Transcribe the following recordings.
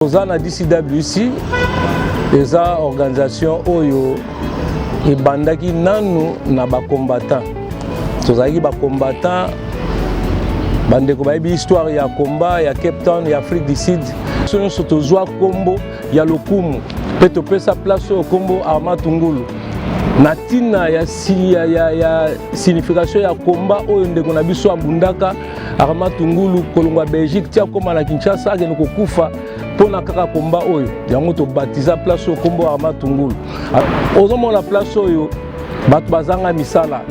toza na dcwc eza organisation oyo ebandaki nanu na bacombattant tozalaki bacombattant bandeko bayebi histoire ya combat ya cape town ya afrique du sud biso nyonso tozwa nkombo ya lokumu mpe topesa place oyo nkombo arma tungulu na ntina ya, ya, ya, ya signification ya komba oyo ndeko na biso abundaka Arma Tungulu kolongwa Belgique tia koma na Kinshasa akende kokufa mpona kaka komba oyo yango tobatiza place oyo nkombo Arma Tungulu. Ozomona place oyo bato bazanga misala,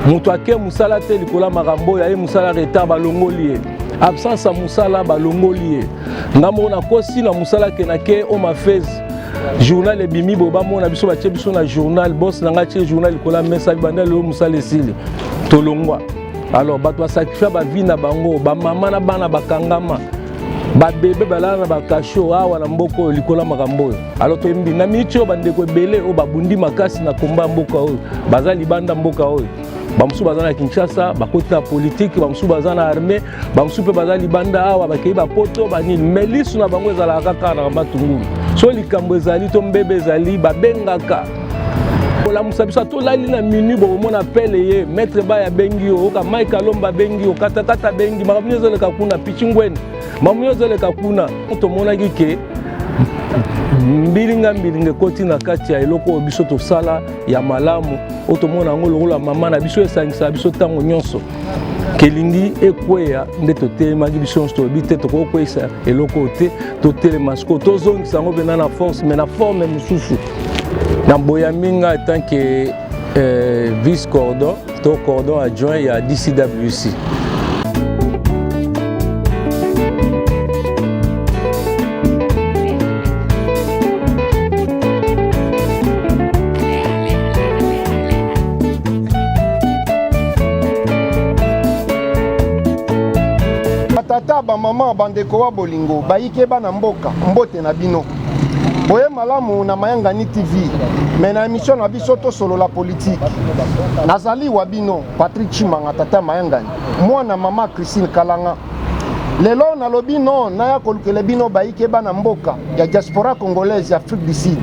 moto ake mosala te likolo ya makambo oyo aye mosala retard balongoli ye absence ya mosala balongoli ye nga moko nakosi na mosala kenake o mafese journal ebimi boye bamona biso batie biso na journal bos na ngai atie journal likolo ya mesa bibanda lelo mosala esili tolongwa alors bato basakrifia bavi na bango bamama na bana bakangama babebe balala na bakasho awa na mboka oyo likolo ya makambo oyo alors toyembi na miniti oyo bandeko ebele oyo babundi makasi na komba ya mboka oyo baza libanda mboka oyo bamosusu baza na kinshasa bakoti na politike bamosusu baza na armée bamosusu mpe baza libanda awa bakei bapoto banini me lisu na bango ezalaka kaka na matungulu so likambo ezali to mbebe ezali babengaka kolamusa biso atolali na minui bokomona apele ye maître baya abengi yo oyoka mike alomba abengi yo katakata abengi makambo nyonso ezoleka kuna pichingwene makambo nyonso ezoleka kuna tomonaki ke mbilinga mbilinga ekoti na kati ya eloko oyo biso tosala ya malamu oyo tomona yango lokola mama na biso esangisaka biso ntango nyonso kelingi ekweya nde totelemaki biso nyonso toyebi te tokoki kokweyisa eloko oyo te totelema sikoyo tozongisa yango mpena na force mai na forme mosusu naboyambi nga en tant que euh, vice cordon to cordon adjoint ya dcwc batata bamama bandeko wa bolingo bayike bana mboka mbote na bino boye malamu na mayangani tv me na emission na biso tosolola politike nazali wa bino patrik chimanga tata ya mayangani mwana mama christine kalanga lelo nalobi no naya kolukela bino bayike bana mboka ya diaspora congolaise ya afrique du sud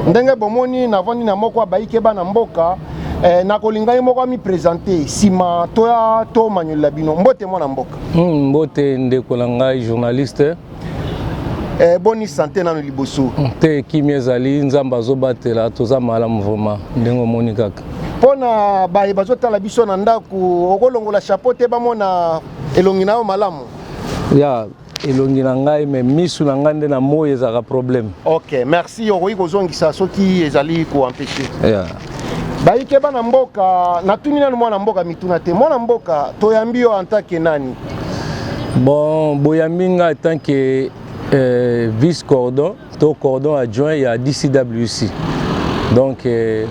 ndenge bomoni navandi na moko ya bayike bana mboka eh, nakolinga ye moko amipresente nsima toya tomanyolela bino mbote mwana mboka mm, mbote ndeko na ngai journaliste Eh, boni sante nano liboso hmm, te kimia ezali nzambe azobatela toza malamu vraimen ndenge omoni kaka mpo na baye bazotala biso na ndako okolongola chapeau te bamona elongi na yo malamu ya elongi na ngai me misu na ngai nde na moi ezalaka problème ok merci okoki kozongisa soki ezali koempeshe yeah. bayike bana mboka natuni nano mwana mboka mituna te mwana mboka toyambi yo antake nani Bon, boyambi nga en tant que euh, vice cordon to cordon adjoint ya DCWC. Donc euh,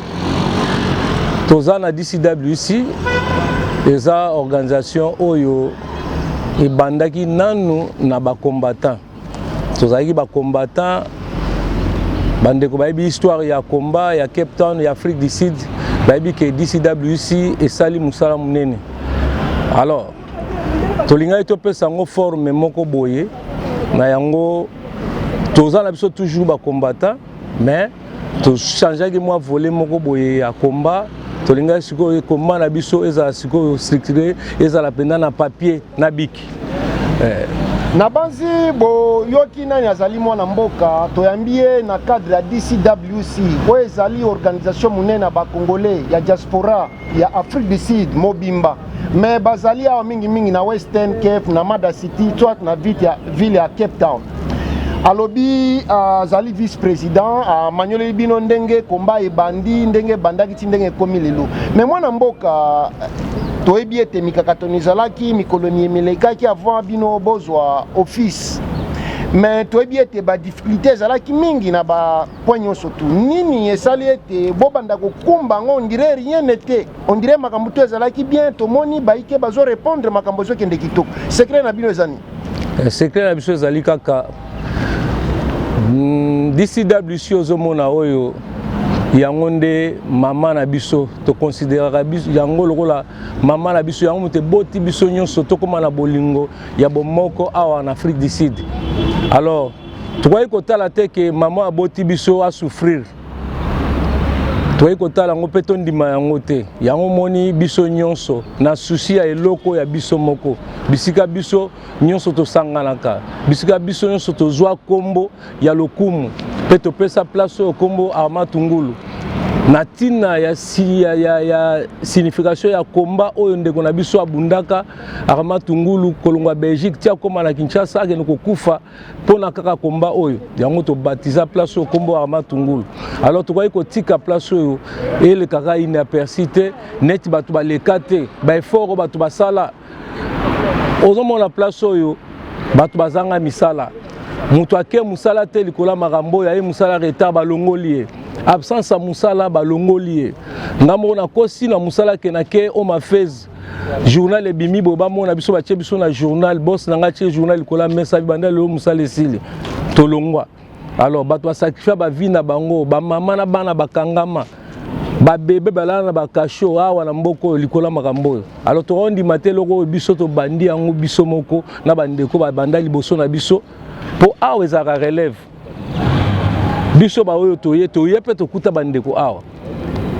toza na DCWC eza organisation oyo ebandaki nanu na ba combattants tozalaki bacombattant bandeko bayebi histoire ya combat ya cape town ya afrique du sud bayebi ke dcwc esali mosala monene alors tolingaki topesa yango forme moko boye na yango toza na biso toujours bacombattant mais tochangeaki mwa vole moko boye ya komba tolingaki sikoyo komba na biso ezala sikoyo structure ezala mpenza na papier na biki eh. nabanzi boyoki nani azali mwana mboka toyambi ye na cadre ya dcwc oyo ezali organisation monene ya bacongolais ya diaspora ya afrique du sud mobimba mais bazali awa mingimingi na western cape na mada city soit na ville ya cape town alobi ah, azali uh, vice président amanyoleli ah, uh, bino ndenge komba ebandi ndenge ebandaki ti ndenge ekomi lelo mais mwana mboka toyebi ete mikakatano ezalaki mikolo mielekaki avant bino bozwa office mais toyebi ete badiffikulté ezalaki mingi na bapoint nyonso tu nini esali ete bobanda kokumba yango ondire rien n'était On dirait makambo to ezalaki bien tomoni baike bazo répondre makambo ezokende kitoko. Secret na bino ezani? Eh, secret na biso ezali kaka mm, DCWC ozomona oyo yango nde mama na biso tokonsideraka yango lokola mama na biso yango moto eboti biso nyonso tokóma na bolingo ya bomoko awa na afrique du sud alors tokoki kotala te ke mama aboti biso asouffrire toyei kotala yango mpe tondima yango te yango moni biso nyonso na susi ya eloko ya biso moko bisika biso nyonso tosanganaka bisika biso nyonso tozwa nkombo ya lokumu mpe topesa place oyo nkombo armatungulu na ntina ya, ya, ya, ya signification ya komba oyo ndeko na biso abundaka armatungulu kolongwa belgique ti akóma na kinshasa akende kokufa mpona kaka komba oyo yango tobatiza place oyo nkombo ya matungulu alors tokaki kotika place oyo elekaka inaperci te neti bato baleka te baeffort oyo bato basala ozomona place oyo bato bazanga misala moto ake mosala te likolo ya makambo oyo aye mosala retard balongoli ye absence ya mosala balongoli ye ngai moko nakosi na mosala kenake o mafese journal ebimi boye bamona biso batie biso na journal bos na ngai atie journal likolo ya mesa bibanda lelo mosala esili tolongwa alors bato basakrifia bavi na bango bamama na bana bakangama babebe balala na bakasho awa na mboka oyo likolo ya makambo oyo alors tokondima te eloko oyo biso tobandi yango biso moko na bandeko babanda liboso na biso mpo awa ezalaka relève biso baoyo toye toye mpe tokuta bandeko awa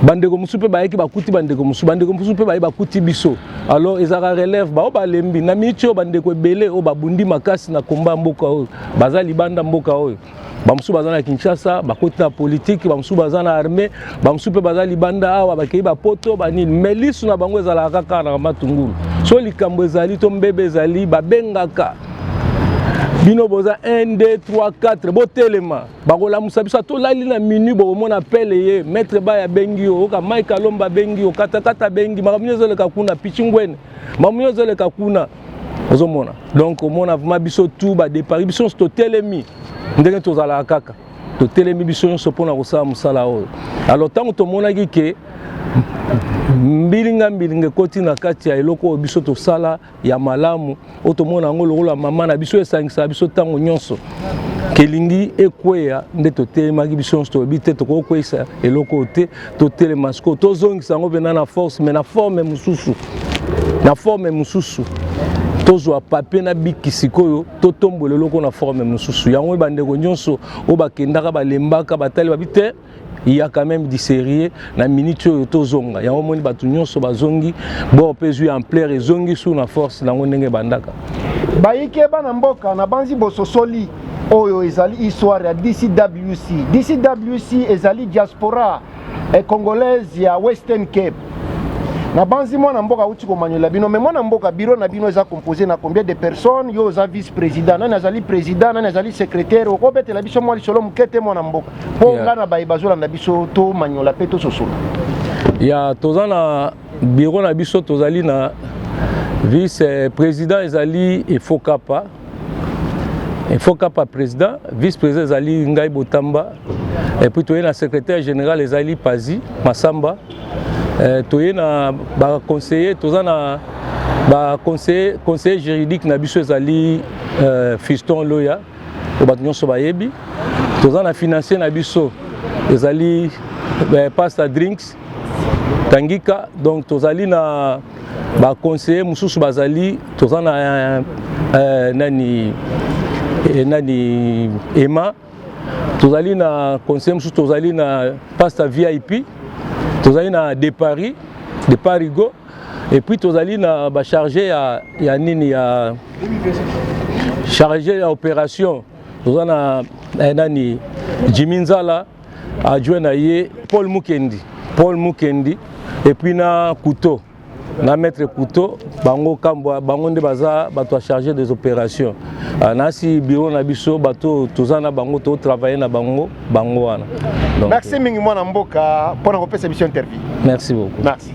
bandeko mosusu mpe bayaki bakuti bandeko mosusu bandeko mosusu mpe baye bakuti biso alors ezalaka relève baoyo balembi na miiti oyo bandeko ebele oyo babundi makasi na komba ya mboka oyo baza libanda mboka oyo bamosusu baza na kinshasa bakoti na politike bamosusu baza na armée bamosusu mpe baza libanda awa bakei bapoto banini mai lisu na bango ezalaka kaka na matungulu so likambo ezali to mbebe ezali babengaka bino boza 1 2 3 4 botelema bakolamusa biso atolali na minui bokomona apele ye maître baya abengi yo oyoka mike alomba abengi yo katakata abengi makambo nini ezoleka kuna pichingwene makambo nini ezoleka kuna ozomona donc omona vrima biso tu badepari biso nyonso totelemi ndenge tozalaka kaka totelemi biso nyonso mpona kosala mosala oyo alors ntango tomonaki ke mbilinga mbilinga ekoti na kati ya eloko oyo biso tosala ya malamu oyo tomona yango lokola mama na biso esangisa biso ntango nyonso kelingi ekweya nde totelemaki biso nyonso toyebi te tokoki kokweisa eloko oyo te totelema sikoyo tozongisa yango mpena na force mai na forme mosusu na forme mosusu tozwa papie na biki sikoyo totombola eloko na forme mosusu yango bandeko nyonso oyo bakendaka balembaka batali babi te il y a quand même du sérieux na minute oyo tozonga yango omoni bato nyonso bazongi bor mpe ezwi ampleur ezongi sur na force nango ndenge ebandaka bayike bana mboka nabanzi bososoli oyo ezali histoire ya dcwc dcwc ezali diaspora eh, congolaise ya western cape nabanzi mwana mboka auti komanyola bino me mwana mboka biro na bino eza compose na combien de personnes yo oza vice président nani azali président nani azali secrétaire okobetela biso mwa lisolo moke te mwana mboka mpo yeah. ngai na baye bazolanda biso tomanyola mpe tososola ya yeah, toza na biro na biso tozali na vice eh, président ezali efokapa efokapa président vice président ezali ngai botamba epuis toye na secrétaire général ezali pazi masamba eh, toye na baconseiller toza na baconseiller conseiller juridique na biso ezali eh, fiston loya oyo bato nyonso bayebi toza na financier na biso ezali eh, pasta drinks tangika donc tozali na baconseiller mosusu bazali toza na eh, eh, nani eh, nani ema tozali na conseiller mosusu tozali na pasta vip tozali na de paris de parigo Et puis tozali na ba charge ya, ya nini ya charge ya operation toza na eh, nani Jimmy Nzala adjoint na ye Paul Mukendi Paul Mukendi et puis na Couteau na maître couteau bango kambwa bango nde baza bato ya charge des opérations ah, nasi biro na biso bato toza na bango totravaille na bango bango wana merci mingi mwana mboka mpo na kopesa biso interview merci beaucoup merci